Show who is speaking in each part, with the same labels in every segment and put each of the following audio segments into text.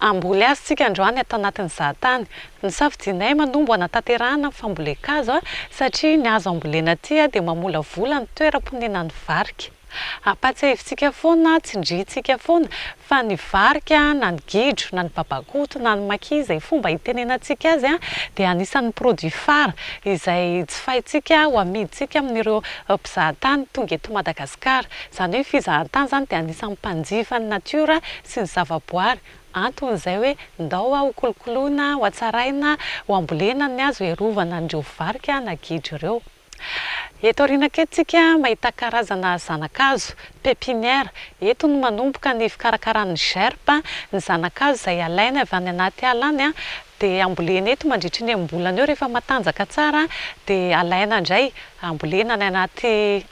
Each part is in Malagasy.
Speaker 1: Hamboly azy isika androany ato anatin'ny zahatany. Nosafidianay manombo hanatanterahana ny fambolen-kazo satria ny hazo ambolena aty dia mamolavola ny toeram-ponenan'ny varika. Ampahatsiahivintsika foana, tsindrintsika foana fa ny varika na ny gidro na ny babakoto na ny maki izay fomba itenenantsika azy dia anisan'ny produit phare izay jifaintsika ho amidintsika amin'ireo mpizahatany tonga eto Madagasikara. Izany hoe ny fizahantany izany dia anisan'ny mpanjifa ny natiora sy ny zavaboary, antony izay hoe ndao a ho kolokoloina, ho hatsaraina, ho hambolena ny hazo hiarovana an'ireo varika na gidro ireo. Eto aoriana kely tsika mahita karazana zanakazo, pepinière, eto no manomboka ny fikarakarana ny gerbe, ny zanakazo izay alaina avy any anaty ala any dia ambolena eto mandritry ny enim-bolana eo rehefa matanjaka tsara dia alaina indray ambolena any anaty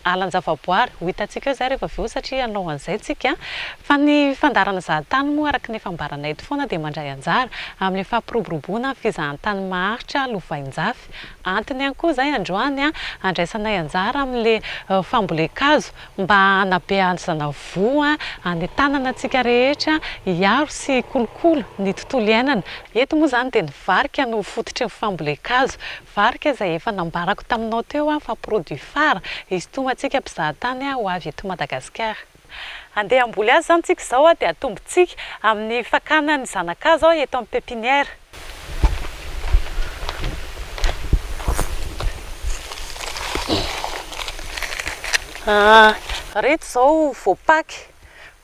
Speaker 1: alan-javaboary, ho hitantsika eo izay rehefa avy eo satria hanao an'izay tsika, fa ny fandaharana zahantany moa araka ny efa ambaranay eto foana dia mandray anjara amin'ny fampiroboroboana ny fizahantany maharitra lovainjafy, antony ihany koa izay androany handraisanay anjara amin'ilay fambolen-kazo mba hanabe hazona voa any tanana antsika rehetra hiaro sy hikolokolo ny tontolo iainana, eto moa izany dia ny varika no fototry ny fambolen-kazo, Varika izay efa nambarako taminao teo aho fa produit phare izy ity ho antsika mpizahatany ho avy eto Madagasikara. Andeha hamboly azy izany tsika izao dia atombontsika amin'ny fakana ny zanakazo eto amin'ny pepinière. Ireto izao voapaky.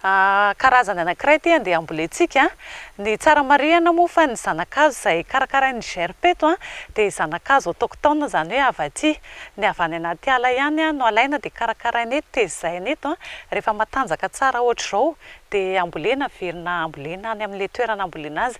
Speaker 1: A Karazany anankiray ity andeha hambolentsika ny tsara marihana moa fa ny zanakazo izay karakarain'ny GRP eto dia zanakazo autochtone izany hoe avy aty, ny avy any anaty ala ihany no alaina dia karakaraina eto, tezaina eto, rehefa matanjaka tsara ohatr'izao dia ambolena, averina ambolena any amin'ilay toerana ambolena azy.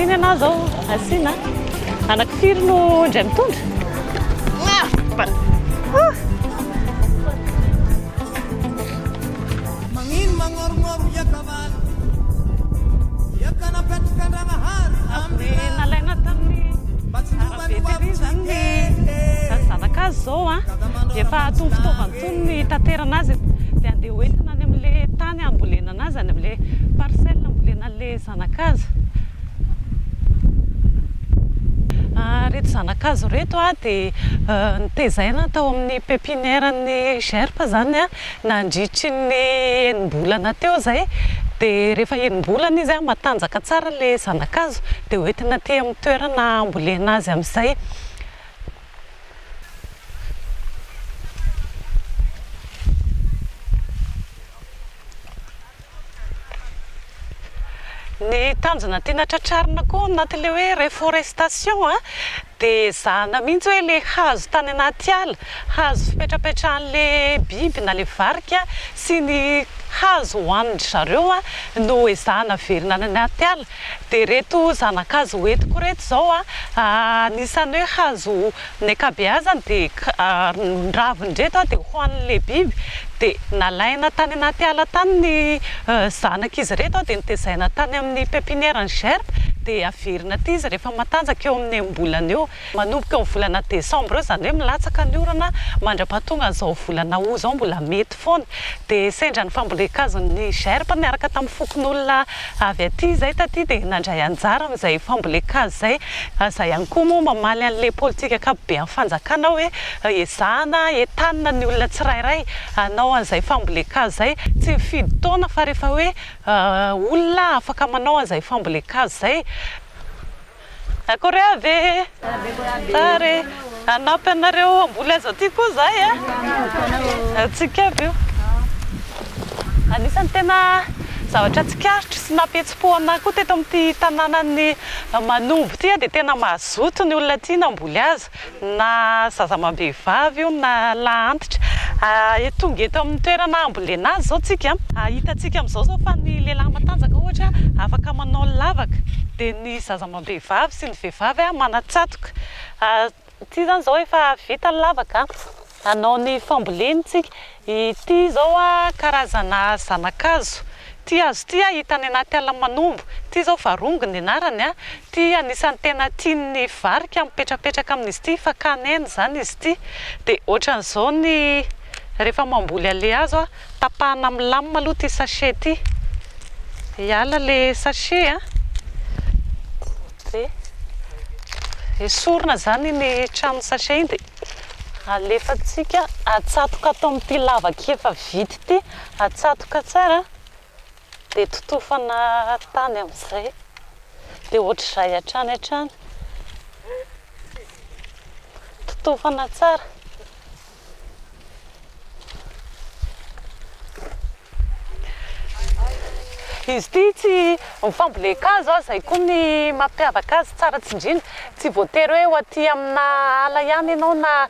Speaker 1: Iny ianao izao asiana. Anaky firy no indray mitondra? Magnino
Speaker 2: magnorognorogno iakavalo Iaka napetraka Andragnahary ambila Nalaina
Speaker 1: tamin'ny Mba tsy nova ny hoavy tsy hikehy Zanaka azy izao an Dia efa tony fitaovany tony ny hitaterana azy Dia andeha ho entina any amin'ilay tany hambolena anazy Any amin'ilay parcelle hambolena an'ilay Zanakazo, ah reto zanakazo reto ah dia notezaina tao amin'ny pepinière ny gerp izany ah nandritry ny enim-bolana teo izay dia rehefa enim-bolana izy ah matanjaka tsara ilay zanakazo dia hoentina aty amin'ny toerana hambolena azy amin'izay. Ny tanjona tiana tratrarina koa anatin'ilay hoe reforestation a, dia ezahana mihitsy hoe ilay hazo tany anaty ala, hazo fipetrapetrahan'ilay biby na ilay varika sy ny hazo hohanin-dry zareo no ezahana averina any anaty ala, Dia reto zanakazo ho entiko reto zao a, anisany hoe hazo ny ankabeazany dia ny raviny reto a dia hohanin' le biby, dia nalaina tany anaty ala tany ny zanak' izy reto a dia notezaina tany amin' ny pepiniera ny gerbe dia averina aty izy rehefa matanjaka eo amin' ny enim-bolana eo. Manomboka ny volana desambra eo, izany hoe milatsaka ny orana mandra-pahatonga an'izao volana aout izao mbola mety foana. Dia sendra ny fambolen-kazon'ny gerbe niaraka tamin'ny fokonolona avy aty izay taty dia nandray anjara amin'izay fambolen-kazo izay. Aza ihany koa moa mamaly an'ilay politika ankapobean'ny fanjakana hoe ezahana entanina ny olona tsirairay hanao an'izay fambolen-kazo izay. Tsy mifidy taona fa rehefa hoe olona afaka manao an'izay fambolen-kazo izay. Akory avy e! Tsara e! Hanampy anareo hamboly azy aty koa izahay a! Antsika aby io. Anisan'ny tena zavatra tsikaritro sy nampihetsi-po anay koa teto amin'ity tanànan'i Manombo ity dia tena mazoto ny olona aty namboly azy. na zaza amam-behivavy io na lahy antitra, tonga eto amin'ny toerana hambolena azy izao tsika, hitantsika amin'izao izao fa ny lehilahy matanjaka ohatra afaka manao lavaka, dia ny zaza amam-behivavy sy ny vehivavy manan-tsatoka, ity izany izao efa vita ny lavaka. Hanao ny famboleny tsika. Ity izao karazana zanakazo. Ity hazo ity hita any anaty ala manombo. Ity izao varongo ny anarany. Ity anisan'ny tena tian'ny varika mipetrapetraka amin'izy ity, fakàna aina izany izy ity. Dia ohatran'izao ny rehefa mamboly an'ilay hazo, tapahana amin'ny lame aloha ity sachet ity. Hiala ilay sachet an. Dia esorina izany iny tranon'ny sachet iny dia Alefantsika atsatoka ato amin'ity lavaka efa vita ity, atsatoka tsara dia totofana tany amin'izay dia ohatr'izay hatrany hatrany, totofana tsara. Izy ity tsy mifambolen-kazo an, izay koa ny mampiavaka azy tsara tsindriana. Tsy voatery hoe ho aty amina ala ihany ianao na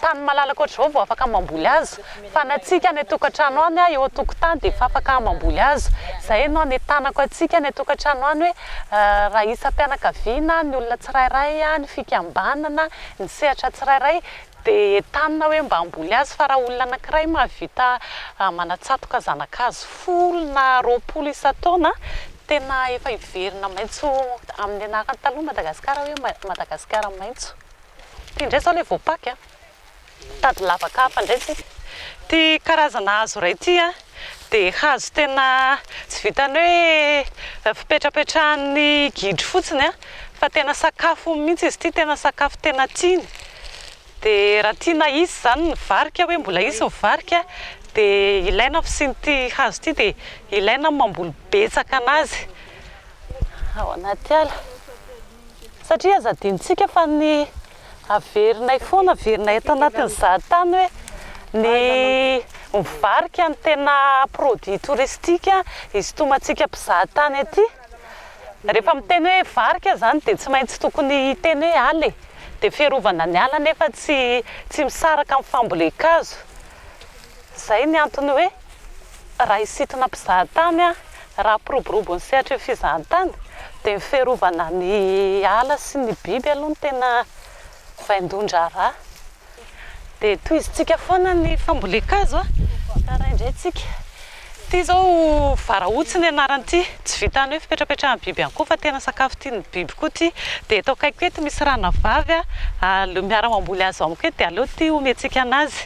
Speaker 1: tany malalaka ohatr'izao vao afaka mamboly azy, fa ny antsika any an-tokantrano any an, eo an-tokotany dia efa afaka mamboly azy. Izay no hanentanako antsika any an-tokantrano any hoe raha isam-pianakaviana, ny olona tsirairay, ny fikambanana, ny sehatra tsirairay Dia entanina hoe mba hamboly azy fa raha olona anankiray mahavita manatsatoka zanakazo folo na roapolo isan-taona, tena efa hiverina maitso amin'ny anarany taloha Madagasikara hoe Madagasikara maitso. Ity indray izao ilay voapaky an! Mitady lavaka hafa indray isika. Ity karazana hazo iray ity an! Dia hazo tena tsy vitan'ny hoe fipetrapetrahan'ny gidro fotsiny fa tena sakafony mihitsy izy ity, tena sakafo tena tiany. Dia raha tiana hisy izany ny varika hoe mbola hisy ny varika dia ilaina ny fisian'ity hazo ity dia ilaina ny mamboly betsaka an'azy ao anaty ala satria aza adinontsika fa ny Averinay foana, averinay ato anatin'ny zahatany hoe ny mivarika ny tena produit touristique isintomantsika mpizahatany aty. Rehefa miteny hoe varika izany dia tsy maintsy tokony hiteny hoe ala e. Dia fiarovana ny ala nefa tsy tsy misaraka amin'ny fambolen-kazo. Izay ny antony hoe, raha hisintona mpizahatany aho, raha hampiroborobo ny sehatry ny fizahantany, dia ny fiarovana ny ala sy ny biby aloha no tena vaindohan-draharaha. Dia tohizintsika foana ny fambolen-kazo ka raindraintsika. Ity izao Varaotsy ny anaran'ity. Tsy vitan'ny hoe fipetrapetrahan'ny biby ihany koa fa tena sakafo tian'ny biby koa ity. Dia eto akaikiko eto misy ranavavy, aleo miara-mamboly azy amiko eto dia aleo ity omentsika anazy.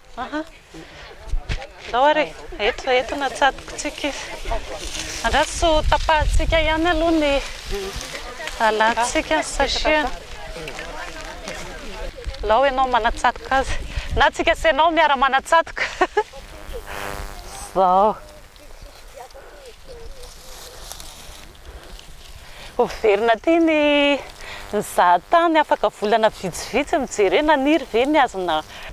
Speaker 1: Aha. Ndao ary e. Eto, eto no atsatokontsika izy. Andraso tsy ho tapahantsika ihany aloha ny alantsika ny sachet-ny. Alao ianao manatsatoka azy. Na tsika sy ianao miara-manatsatoka. Izao. Hoverina aty ny nizaha tany, afaka volana vitsivitsy no jerena, naniry ve ny hazo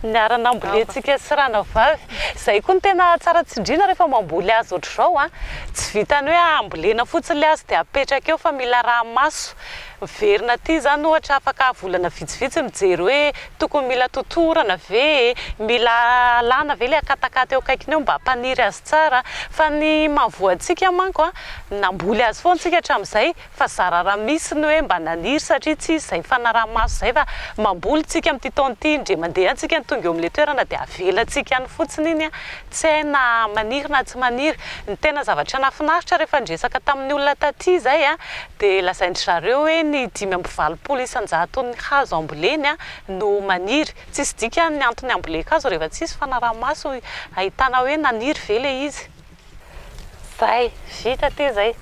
Speaker 1: niarana ambolentsika sy ranavavy? Izay koa no tena tsara tsindriana rehefa mamboly hazo ohatr'izao an! Tsy vitan'ny hoe ambolena fotsiny ilay hazo dia apetraka eo fa mila arahi-maso. Miverina aty izany ohatra afaka volana vitsivitsy mijery hoe tokony mila totorana ve e, mila alana ve ilay akatakata eo akaikiny eo mba hampaniry azy tsara fa ny mahavoa antsika manko a, namboly azy foana isika hatramin'izay fa zara raha misy ny hoe mba naniry satria tsy izy izay fanaraha-maso izay fa mamboly isika amin'ity taona ity indray mandeha isika ny tonga eo amin'ilay toerana dia avelantsika any fotsiny iny a, Tsy hay na maniry na tsy maniry. Ny tena zavatra nafinaritra rehefa niresaka tamin'ny olona taty izay dia lazain-dry zareo hoe ny dimy amby valopolo isan-jaton'ny hazo amboleny no maniry. Tsisy dikany ny antony ambolen-kazo rehefa tsisy fanaraha-maso ahitana hoe naniry ve ilay izy. Zay, vita aty zay.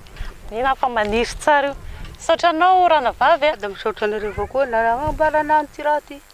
Speaker 1: Mino aho fa maniry tsara io. Misaotra anao Ranavavy a. Dia misaotra anareo avao koa
Speaker 3: nanambara anah amin'ity raha ity.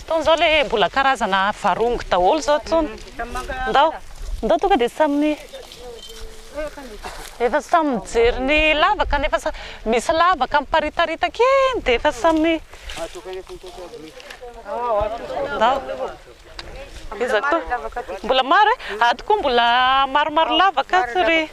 Speaker 1: Itony zao le mbola karazana varongo daholo zao itony. Ndao ndao tonga dia samy efa samy mijery ny lavaka ny efa misy lavaka miparitaritaky eny dia efa samy ndao iza koa mbola maro e? Ato koa mbola maromaro lavaka ato ry.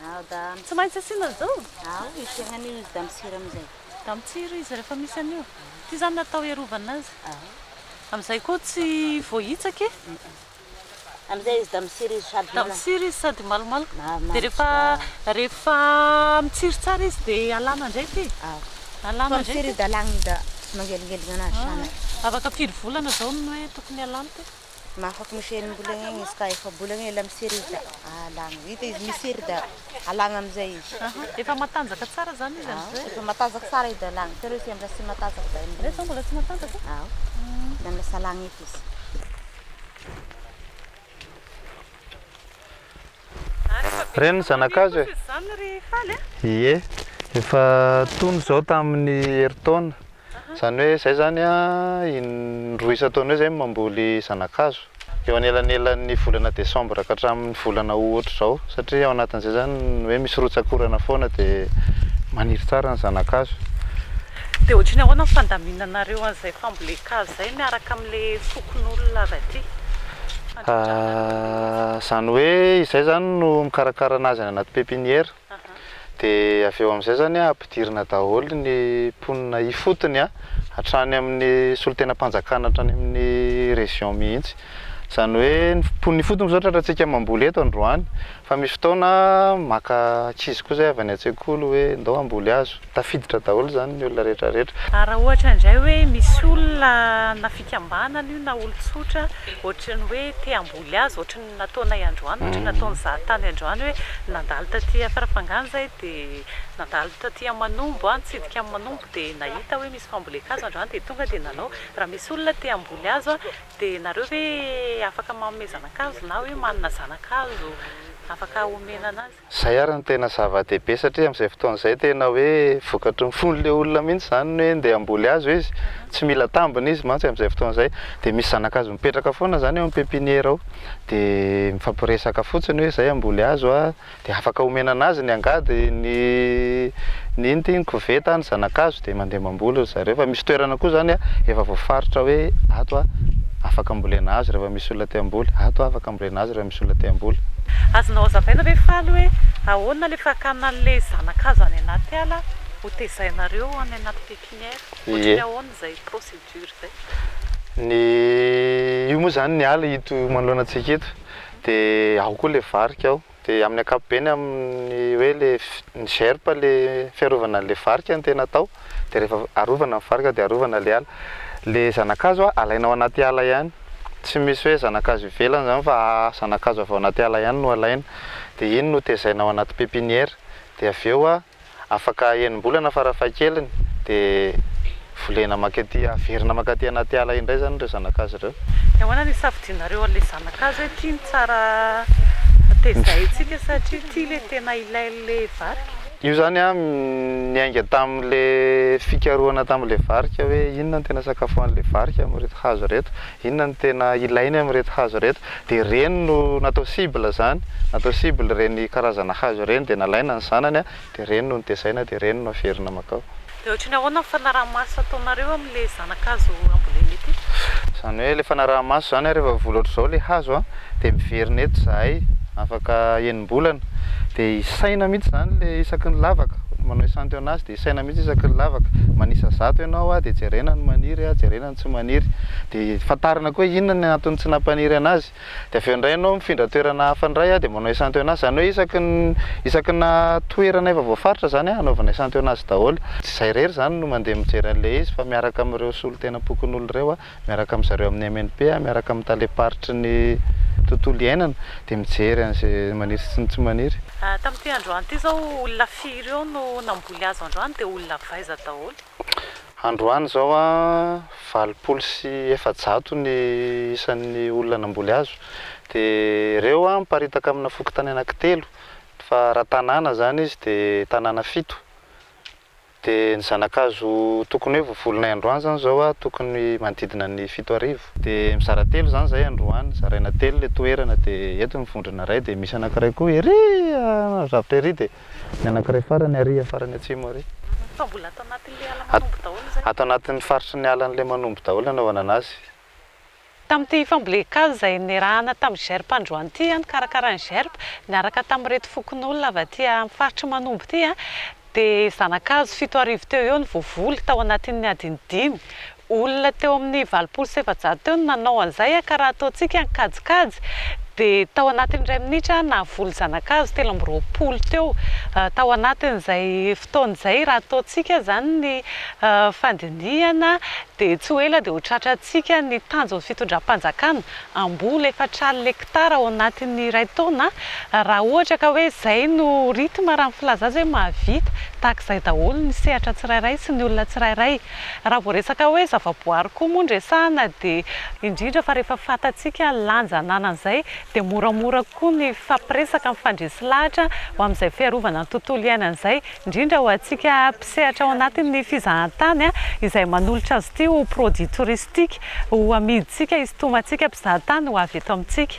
Speaker 1: Ao dam. Tsy maintsy asiana an'izao? Ao, asiana an'io
Speaker 3: izy dam tsiry amin'izay. Dam tsiry izy
Speaker 1: rehefa misy an'io. Ity izany natao hiarovana azy. Ao. Amin'izay koa tsy voahitsaka e.
Speaker 3: Amin'izay izy dam tsiry izy sady malaka. Dam tsiry izy sady
Speaker 1: malomaloka. Mahamamo dia rehefa tsara. Rehefa mitsiry tsara izy dia alana indray ity. Ao. Alana indray ity. Fa mitsiry izy dia alana da
Speaker 3: mangelingelina anazy. Afaka firy volana
Speaker 1: izao no hoe tokony alana ity? Mahafapo misy
Speaker 3: enim-bolana eny izy ka efa-bolana ela misereda alagna. Hita izy misereda alagna amin'izay izy. Efa matanjaka
Speaker 1: tsara izany izy amin'izay? Efa matanjaka tsara izy
Speaker 3: alagna. Tena hoe tsy mbola tsy matanjaka izay enim-bolana. Ilay izao mbola tsy matanjaka?
Speaker 1: Ao. Mbola
Speaker 3: lasa alagna eky izy.
Speaker 4: Reny ny zanakazo e!
Speaker 1: Ie,
Speaker 4: efa tony izao tamin'ny herintaona, izany hoe izay izany an, in-droa isan-taona eo izay no mamboly zanakazo, eo anelanelan'ny volana desambra ka hatramin'ny volana aout izao, satria ao anatin'izay izany hoe misy rotsak'orana foana dia maniry tsara ny zanakazo. Dia
Speaker 1: ohatry ny ahoana ny fandaminanareo an'izay fambolen-kazo izay miaraka amin'ilay fokonolona avy aty mandritra ny aloha be
Speaker 4: izy? Izany hoe izay izany no mikarakara an'azy any anaty pepiniera, dia avy eo amin'izay izany an ampidirina daholo ny mponina ifotony an, hatrany amin'ny solontenam-panjakana hatrany amin'ny région mihitsy, izany hoe ny mponina ifotony izao tratra antsika mamboly eto androany fa misy fotoana an maka ankizy koa izay avy any an-tsekoly hoe ndao hamboly hazo, Tafiditra daholo izany ny olona rehetra rehetra. Ary raha ohatra indray
Speaker 1: hoe misy olona na fikambanana io na olon-tsotra ohatry ny hoe te hamboly azy ohatry ny nataonay androany, ohatry ny nataon'i Zahatany androany hoe nandalo taty Farafangana izahay dia nandalo taty Manombo aho nitsidika an'i Manombo dia nahita hoe misy fambolen-kazo androany dia tonga dia nanao. Raha misy olona te hamboly hazo dia nareo ve afaka manomezana ankazo na hoe manana zanakazo afaka omena anazy? Zay ary no tena
Speaker 4: zava-dehibe satria amin'izay fotoana izay tena hoe vokatry ny fon'ilay olona mihitsy izany ny hoe ndeha hamboly azy hoe izy, tsy mila tambiny izy mantsy amin'izay fotoana izay dia misy zanakazo mipetraka foana izany eo amin'ny pepiniera ao dia mifampiresaka fotsiny hoe izay hamboly azy hoa dia afaka omena an'azy ny angady, ny ny inona ity ny koveta, ny zanakazo dia mandeha mamboly ry zareo fa misy toerana koa izany efa voafaritra hoe ato hoa afaka ambolena azy rehefa misy olona te hamboly, ato hoa afaka ambolena azy rehefa misy. Rajoelina te hamboly. Azonao hazavaina
Speaker 1: ve faly hoe ahoana le fakana anle zanakazo any anaty ala ho tezainareo any anaty pepinière? Ohatran'ny ahoana izay procédure izay? Ny
Speaker 4: io moa izany ny ala ito manoloana antsika ito de ao koa le varika ao de amin'ny ankapobeny amin'ny hoe le ny gerpe le fiarovana anle varika no tena atao. dia rehefa arovana ny varika dia arovana ilay ala. Ilay zanakazo alaina ao anaty ala ihany, tsy misy hoe zanakazo ivelany izany fa zanakazo avy ao anaty ala ihany no alaina, dia iny no tezaina ao anaty pepiniera, dia avy eo afaka enim-bolana farafahakeliny dia volena mankaty, averina mankaty anaty ala indray izany ireo zanakazo ireo. Dia ahoana no hisafidianareo
Speaker 1: an'ilay zanakazo hoe ity no tsara tezaintsika satria ity ilay tena ilain'ilay varika? Io zany an
Speaker 4: niainga tamin'le fikarohana tamin'le varika hoe inona no tena sakafo an'le varika amin'ireto hazo ireto, inona no tena ilainy amin'ireto hazo ireto dia ireny no natao cible zany, natao cible ireny karazana hazo ireny dia nalaina ny zanany dia ireny no notezaina dia ireny no averina makao. Dia ohatry ny ahoana ny
Speaker 1: fanaraha-maso ataonareo amin'ilay zana-kazo ambolena ity? Izany hoe ilay
Speaker 4: fanaraha-maso izany ary efa vola ohatr'izao ilay hazo dia miverina eto izahay afaka enim-bolana dia hisaina mihitsy izany ilay isaky ny lavaka, ohatry manao echantillon azy dia hisaina mihitsy isaky ny lavaka, manisa zato ianao dia jerena ny maniry, jerena ny tsy maniry dia fantarina koa hoe inona ny antony tsy nampaniry an'azy. Dia avy eo indray ianao mifindra toerana hafa indray an, dia manao esanteonazy, izany hoe isaky ny isaky na toerana efa voafaritra izany an, anaovana esanteonazy daholo. Tsy izay irery izany no mandeha mijery an'ilay izy fa miaraka amin'ireo solontenam-pokonolona ireo an, miaraka amin-dry zareo amin'ny MNP an, miaraka amin'ny talem-paritry ny tontolo iainana, dia mijery an'izay maniry sy ny tsy maniry. Tamin'ity androany
Speaker 1: ity izao, olona firy eo no namboly hazo androany, dia olona avy aiza daholo? Androany
Speaker 4: izao, valopolo sy efajato ny isan'ny olona namboly hazo. Dia ireo miparitaka amina fokontany anankitelo, fa raha tanàna izany izy dia tanàna fito. Dia ny zana-kazo tokony hoe vovolonay androany izany izao tokony manodidina ny fito arivo. Dia mizara telo izany izay androany, zaraina telo ilay toerana, dia eto ny vondrona iray, dia misy anankiray koa ery an'Androzafitra ery, dia Ny anankiray farany ary iha farany atsimo ary. Fa mbola ato
Speaker 1: anatin'ilay ala manombo daholo izay. Ato anatin'ny faritry ny alan'ilay
Speaker 4: manombo daholo ny anaovana azy. Tamin'ity
Speaker 1: fambolen kazo izay niarahana tamin'ny GERP androany ity, nikarakarain'ny GERP niaraka tamin'ireto fokonolona avy aty amin'ny faritry ny manombo ity dia zanakazo fito arivo teo eo no voavoly tao anatin'ny adiny dimy. Olona teo amin'ny valopolo sy efajato teo no nanao an'izay ka raha ataontsika ny kajikajy dia tao anatin'ny iray minitra nahavoly zanakazo telo amby roapolo teo tao anatin'izay fotoana izay raha ataontsika izany ny fandinihana dia tsy ho ela dia ho tratrantsika ny tanjon'ny fitondram-panjakana hamboly efatraly lektara ao anatin'ny iray taona raha ohatra ka hoe izay no rythme raha ny filazana hoe mahavita tahaka izay daholo ny sehatra tsirairay sy ny olona tsirairay Raha vao resaka hoe zavaboary koa moa no resahana dia indrindra fa rehefa fantatsika ny lanja ananan'izay dia moramora kokoa ny fifampiresaka, mifandresy lahatra ho amin'izay fiarovana ny tontolo iainana izay, indrindra ho antsika mpisehatra ao anatin'ny fizahantany izay manolotra azy ity ho produit touristique ho amidintsika, hisintomantsika mpizahatany ho avy eto amintsika.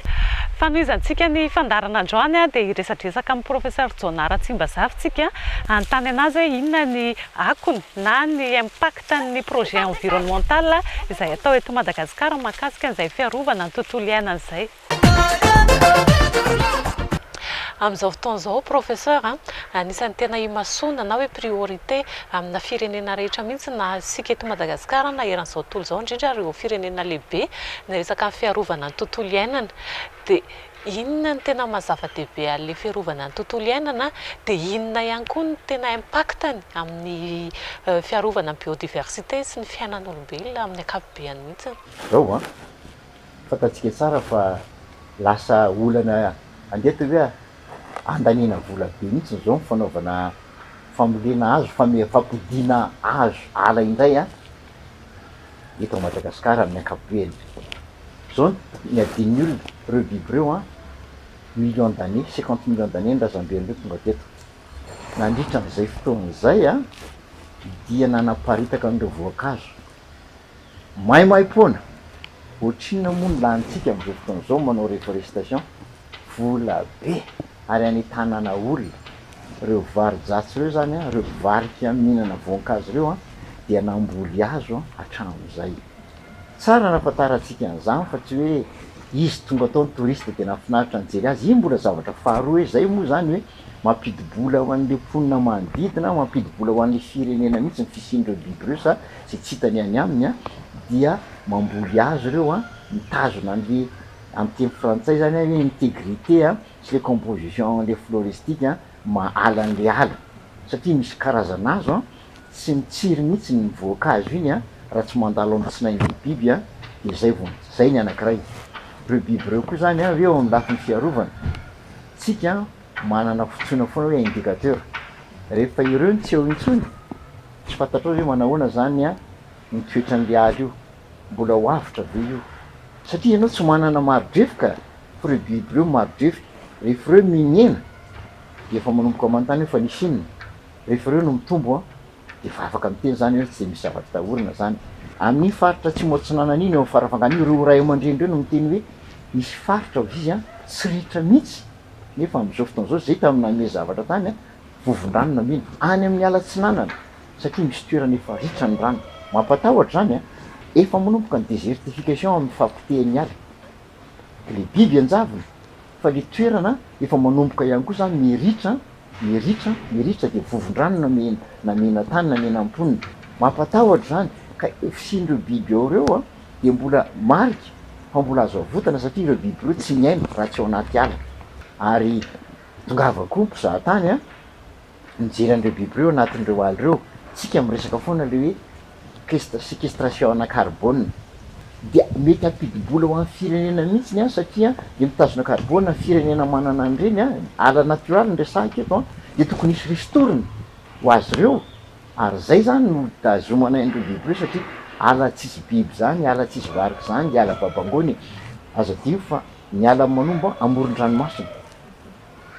Speaker 1: Fanohizantsika ny fandaharana androany dia hiresadresaka amin'i Professeur Jona Ratsimbazafy tsika hanontany anazy hoe inona ny Akony na ny impact an'ny projet environnemental izay atao eto Madagasikara mahakasika an'izay fiarovana ny tontolo iainana izay. Amin'izao fotoana izao Professeur a, anisan'ny tena imasoana na hoe priorité amina firenena rehetra mihitsy na isika eto Madagasikara na eran'izao tontolo izao indrindra ireo firenena lehibe ny resaka fiarovana ny tontolo iainana dia Inona ny tena maha zava-dehibe an'ilay fiarovana ny tontolo iainana dia inona ihany koa ny tena impact-ny amin'ny fiarovana ny biodiversité sy ny fiainan'olombelona amin'ny ankapobeany mihitsy? Izao an,
Speaker 5: fantatsika tsara fa lasa olana andeha atao hoe andaniana vola be mihitsy izao ny fanaovana fambolena hazo, fampodiana hazo ala indray an. eto à Madagascar amin'ny ankapobeny. Zao ny adin'ny olona reo biby reo an, millions d'années, cinquante millions d'années ny razamben reo tonga teto. Nandritra an'izay fotoana izay an, dia nanaparitaka an'ireo voankazo. Maimaimpoana, ohatrinona moa ny lanintsika amin'izao fotoana izao manao reforestation. vola be ary anentanana olona. Ireo varo-dratsy ireo izany, ireo mpivarika mihinana voankazo ireo an, dia namboly azo hatramin'izay. Tsara ny ahafantarantsika an'izany fa tsy hoe izy tonga tao ny touriste dia nahafinaritra nijery azy. Iny mbola zavatra faharoa hoe izay moa izany hoe mampidi-bola ho an'ilay mponina manodidina, mampidi-bola ho an'ilay firenena mihitsy ny fisian'ireo biby ireo sa izay tsy hitany any aminy dia mamboly azy ireo an, mitazona an'ilay. amin'ny teny frantsay zany hoe integrite a, sy le composition le floristique a, mahala an'le ala, satria misy karazan'hazo a, tsy mitsiry mihitsy ny voankazo iny a, raha tsy mandalo amin'ny tsinain'le biby a, de zay vao, zay ny anankiray. Reo biby reo koa zany a, hoe eo amin'ny lafiny fiarovana, tsika manana fotsoina foana hoe indicateur, rehefa ireo no tsy eo intsony, tsy fantatrao zay hoe manahoana zany a, ny toetran'le ala io, Mbola ho avotra ve io? Satria ianao tsy manana maridrefoka, fa ireo biby ireo maridrefoka. Rehefa ireo mihena, dia efa manomboka manontany hoe fa nisy inona? Rehefa ireo no mitombo, dia efa afaka miteny izany ianao, tsy dia misy zavatra atahorana izany. Amin'iny faritra Atsimo Atsinanana iny, eo amin'ny farafahaganiny, ireo ray aman-dreny ireo no miteny hoe misy faritra hozizy tsy ritra mihitsy, nefa amin'izao fotoana izao, izay tamin'ny namehy zavatra tany, vovon-dranona mino any amin'ny ala atsinanana satria misy toerana efa ritra ny rano. Mampatahotra izany, efa manomboka ny désertification amin'ny fahapotehan'ny ala, ilay biby ianjavony fa ilay toerana efa manomboka ihany koa izany miritra, miritra, miritra dia vovon-dranona mino na mena tany na mena mponina. Mampatahotra izany ka eo fisian'ireo biby ao ireo dia mbola marika fa mbola azo avotana satria ireo biby ireo tsy miaina raha tsy ao anaty ala ary Tongava koa mpizaha tany a! mijery an'ireo biby ireo anatin'ireo ala ireo, isika miresaka foana ilay hoe séquestration ana carbone dia mety hampidi-bola ho an'ny firenena mihitsy ny any satria dia mitazona carbone ny firenena manana an'ireny a! ala natiora-ly no resahiko eto an! dia tokony hisy ristourne ho azy ireo ary izay izany no hitazomana an'ireo biby ireo satria ala tsisy biby izany, ala tsisy varika izany ilay ala babangoana e! aza adino fa. Niala ny manombo amoron-dranomasina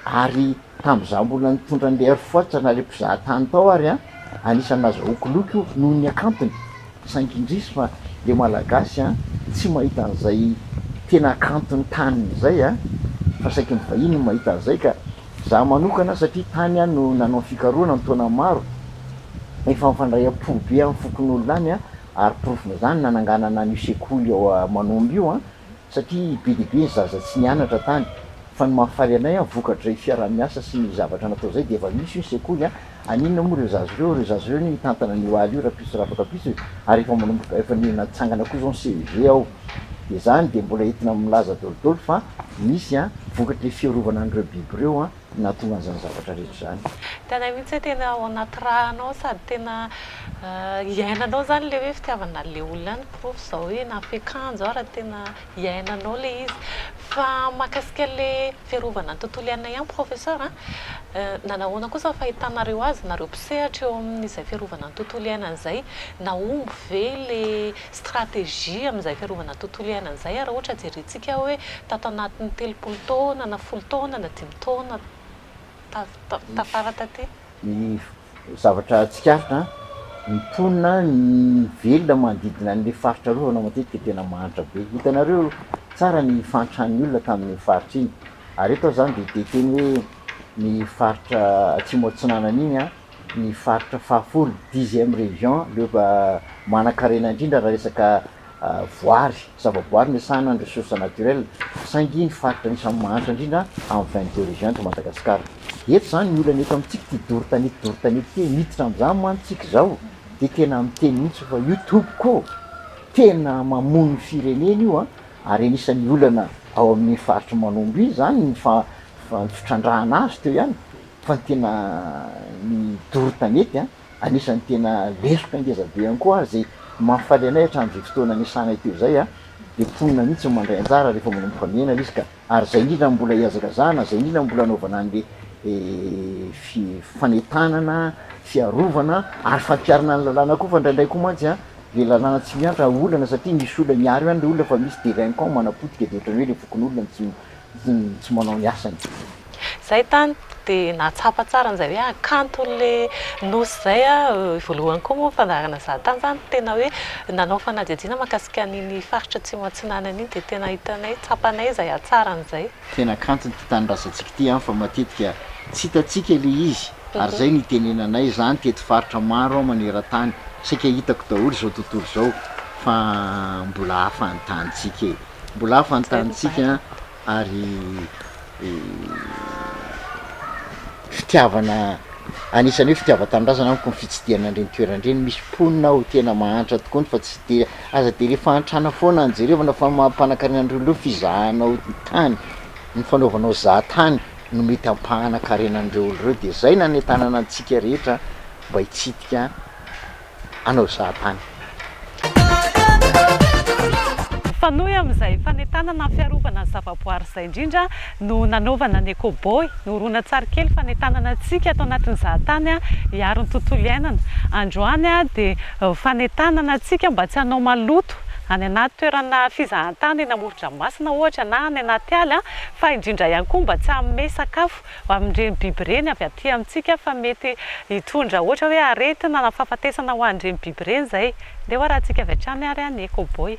Speaker 5: ary tamin'izaho mbola nitondra an'ilay Air Force na ilay mpizahatany tao ary an, anisan'ny nazahoako loka io noho ny hakantony, saingy indrisy fa ilay Malagasy an, tsy mahita an'izay tena hakanton'ny taniny izay an, fa saiky ny vahiny no mahita an'izay ka izaho manokana satria tany aho no nanao fikarohana an-taona maro, efa nifandraiam-po be amin'ny fokonolona any an, ary porofon'izany ny nananganana an'io sekoly ao Manombo io an. satria be dia be ny zaza tsy nianatra tany fa ny mahafaly anay an vokatrizay fiaraha-miasa sy ny zavatra natao izay dia efa misy hoy ny sekoly an, any inona moa ireo zaza ireo, ireo zaza ireo anie mitantana an'io aly io rapiso rapatrapiso e, ary efa manomboka efa natsangana koa izao ny CEG ao dia izany dia mbola entina milaza dolidoly fa misy an vokatr'ilay fiarovana an'ireo biby ireo an. nahatongan'izany zavatra rehetra izany. Hitanay mihitsy hoe tena
Speaker 1: ao anaty ra anao sady tena iainanao izany ilay hoe fitiavana an'ilay olona any, porofo izao hoe na fiakanjo ary tena iainanao ilay izy. Fa mahakasika ilay fiarovana ny tontolo iainana ihany professeur a, nanahoana kosa ny fahitanareo azy nareo mpisehatra eo amin'izay fiarovana ny tontolo iainana izay? Nahomby ve ilay stratégie amin'izay fiarovana tontolo iainana izay ary raha ohatra jerentsika hoe tato anatin'ny telopolo taona na folo taona na dimy taona tafara taty. Ny
Speaker 5: zavatra tsikaritra ny mponina ny velona manodidina an'ilay faritra arovana matetika tena mahantra be, hitanareo tsara ny fahantran'ny olona tamin'iny faritra iny ary eto aho izany dia te hiteny hoe ny faritra atsimo atsinanana iny an, ny faritra fahafolo, dixième région, le manan-karena indrindra raha resaka voary, zavaboary miasana ny ressources naturelles, saingy ny faritra anisan'ny mahantra indrindra amin'ny vingt deux régions eto Madagasikara. Eto izany ny olana eto amintsika ity doro tanety doro tanety ity, miditra amin'izany mantsy isika izao dia tena miteny mihitsy fa io tompoko ô! tena mamono ny firenena io an! ary anisan'ny olana ao amin'ny faritry Manombo iny izany ny fa- ny fitrandrahana azy teo ihany. Fa ny tena ny doro tanety an, anisan'ny tena leloka ngeza be ihany koa ary izay mahafaly anay hatramin'izay fotoana niasanay teo izay an, dia mponina mihitsy no mandray anjara rehefa manomboka mihena izy ka, ary izay indrindra no mbola ihazakazahana, izay indrindra no mbola anaovana an'le fi, fanentanana, fiarovana ary fampiharana ny lalàna koa fa indraindray koa mantsy an, le lalàna tsy miantra olana satria misy olona miaro ihany le olona fa misy delinquants manapotika dia ohatran'ny hoe le fokonolona no tsy, tsy manao ny asany. Izay tany
Speaker 1: dia nahatsapa tsara an'izay hoe kanto ilay nosy izay aho. Voalohany koa moa ny fandaharana izaho tany izany dia tena hoe nanao fanadihadiana mahakasika an'iny faritra Atsimo Atsinanana iny dia tena hitanay, tsapanay izay hatsarany izay. Tena kanto ity
Speaker 5: tanindrazantsika ity an, fa matetika tsy hitantsika ilay izy ary izay no itenenanay izany teto faritra maro an maneran-tany. Saika hitako daholo izao tontolo izao fa mbola hafa ny tanintsika e. Mbola hafa ny tanintsika an. ary fitiavana anisany hoe fitiavan-tanindrazana amiko ny fitsidihana an'ireny toerana ireny, misy mponina ao tena mahantra tokoa ny fa tsy de aza de le fahantrana foana no jerevana fa ny maha mpanankarena an'ireo ireo fizahanao ny tany, ny fanaovanao zahan-tany no mety ampahana karena an'ireo olo ireo de zay nanentanana antsika rehetra mba hitsidika. hanao zahatany.
Speaker 1: Mifanohy amin'izay fanentanana ny fiarovana ny zavaboary izay indrindra no nanaovana ny Ecoboy, ny horonantsarikely fanentanana antsika ato anatin'ny zahatany hiaro ny tontolo iainana. Androany dia fanentanana antsika mba tsy hanao maloto any anaty toerana fizahantany eny amoron-dranomasina ohatra na any anaty ala fa indrindra ihany koa mba tsy hanome sakafo amin'ireny biby ireny avy aty amintsika fa mety hitondra ohatra hoe aretina na fahafatesana ho an'ireny biby ireny izay. Ndeha ho arahintsika avy hatrany ary ny Ecoboy.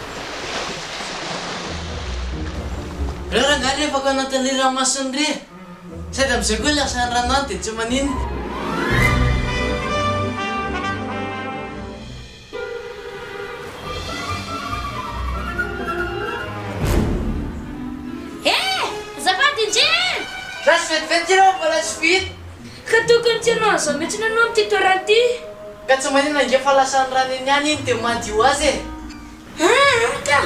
Speaker 6: Reo rangahy rehfa ka nanontania ranomasony re sady amizay koa lasa ny rano any de tsy maninona. Eh!
Speaker 7: Azafady indrindra! Lasa vetivety
Speaker 6: ry reo mbola tsy vita. Ka tokony
Speaker 7: tsy hanao an'izao mihitsy ianao amin'ity toerana ity. Ka tsy maninona
Speaker 6: ange fa lasan'ny rà neny ihany iny dia madio ho azy e! Aa
Speaker 7: ka!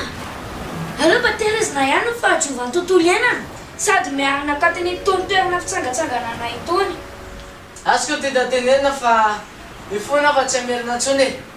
Speaker 7: Aleo mba tehirizina ihany ny fahadiovan'ny tontolo iainana sady miarina tato an'itony toerana fitsangantsanganana itony. Azoko
Speaker 6: teta tenenina fa io foana aho fa tsy hamerina intsony e!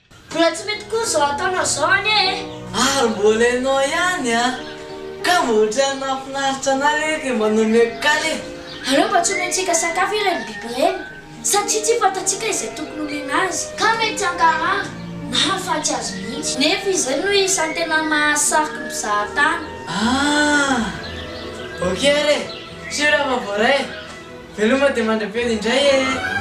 Speaker 7: Mbola tsy mety koa zao ataonao zao anie e! Ary mbola
Speaker 6: ianao ihany an! Kamo otrany mahafinaritra anay re kay mba nomeko kal e! Aleo mba tsy
Speaker 7: omentsika sakafo ireny biby ireny satria tsy fantatsika izay tokony homena azy. Ka mety tsy hankarary na hahafaty azy mihitsy. Nefa izay no isan'ny tena mahasariky ny mpizaha tany. Ah!
Speaker 6: Ok ary e! Sûr aho fa voaray e! Veloma dia mandra-peo
Speaker 1: indray eh!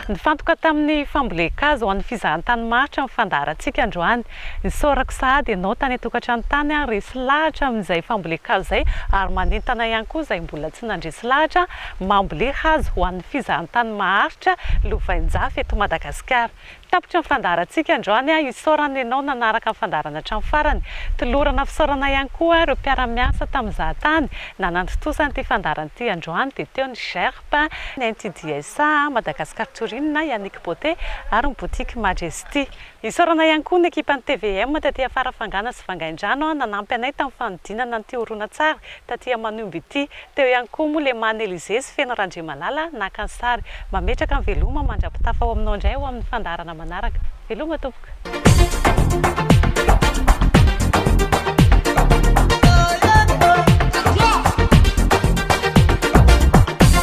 Speaker 1: Nifantoka tamin'ny fambolen-kazo ho an'ny fizahantany maharitra ny fandaharantsika androany. Isaorako sahady ianao tany an-tokantrano tany ary resy lahatra amin'izay fambolen-kazo izay ary manentana ihany koa izay mbola tsy nandresy lahatra mamboly hazo ho an'ny fizahantany maharitra lovain-jafy eto Madagasikara. Tapitra ny fandaharantsika androany, isaorana ianao nanaraka ny fandaharana hatramin'ny farany. Tolorana fisaorana ihany koa ireo mpiara-miasa tamin'ny Zahatany nanantontosa an'ity fandaharana ity androany dia teo ny GERP, ny NTDSA, Madagascar Touring, Yannick Beauté ary ny Boutique Majesty. Isaorana ihany koa ny ekipan'ny tvm taty afara fangana sy vangaindrano nanampy anay tamin'ny fanodinana an'ity horonantsary taty Aman'Omby ity. Teo ihany koa moa Lemany Elisée sy Feno Randriamalala naka ny sary. Mametraka ny veloma mandra-pitafa ho aminao indray ao amin'ny fandaharana manaraka. Veloma tompoko.